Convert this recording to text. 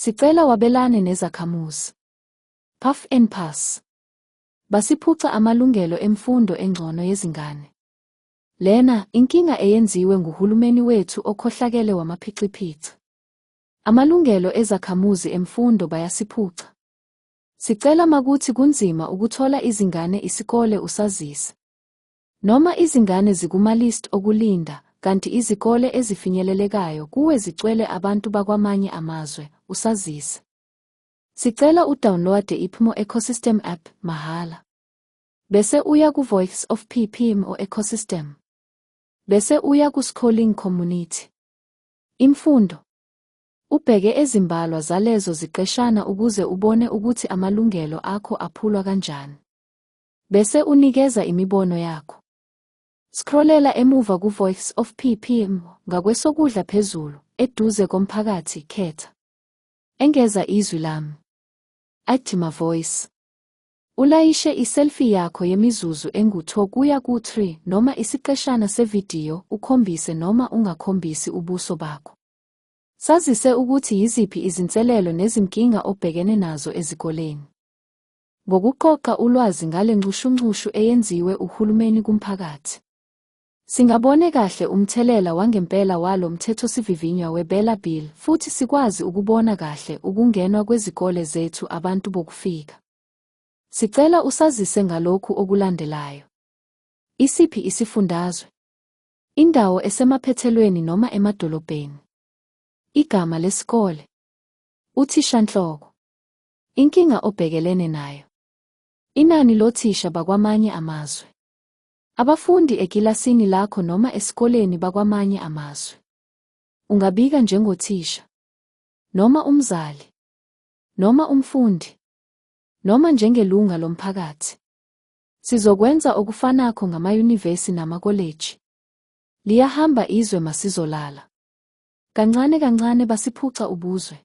Sicela wabelane nezakhamuzi. Puff and Pass. Basiphuca amalungelo emfundo engcono yezingane. Lena inkinga eyenziwe nguhulumeni wethu okhohlakele wamaphixiphixi. Amalungelo ezakhamuzi emfundo bayasiphuca. Sicela makuthi kunzima ukuthola izingane isikole usazise. Noma izingane zikumalist okulinda, kanti izikole ezifinyelelekayo kuwe zicwele abantu bakwamanye amazwe, usazise. Sicela udownloade iPMO Ecosystem app mahhala. Bese uya kuVoice of PPMO Ecosystem. Bese uya kuScholing Community. Imfundo. Ubheke ezimbalwa zalezo ziqeshana ukuze ubone ukuthi amalungelo akho aphulwa kanjani. Bese unikeza imibono yakho. Scrollela emuva ku-Voice of PPM ngakwesokudla phezulu, eduze komphakathi, khetha. Engeza izwi lami. Ajima Voice. Ulayishe iselfie yakho yemizuzu engu-2 kuya ku-3 noma isiqeshana sevidiyo ukhombise noma ungakhombisi ubuso bakho. Sazise ukuthi yiziphi izinselelo nezinkinga obhekene nazo ezikoleni. ngokuqoqa ulwazi ngale nxushunxushu eyenziwe uhulumeni kumphakathi. Singabone kahle umthelela wangempela walo mthethosivivinywa weBela Bill futhi sikwazi ukubona kahle ukungenwa kwezikole zethu abantu bokufika. Sicela usazise ngalokhu okulandelayo. Isiphi isifundazwe? Indawo esemaphethelweni noma emadolobheni. Igama lesikole. Uthishanhloko. Inkinga obhekelene nayo. Inani lothisha bakwamanye amazwe. Abafundi ekilasini lakho noma esikoleni bakwamanye amazwe. Ungabika njengothisha. Noma umzali. Noma umfundi. Noma njengelunga lomphakathi. Sizokwenza okufanakho ngamayunivesi namakoleji. Liyahamba izwe masizolala. Kancane kancane basiphuca ubuzwe.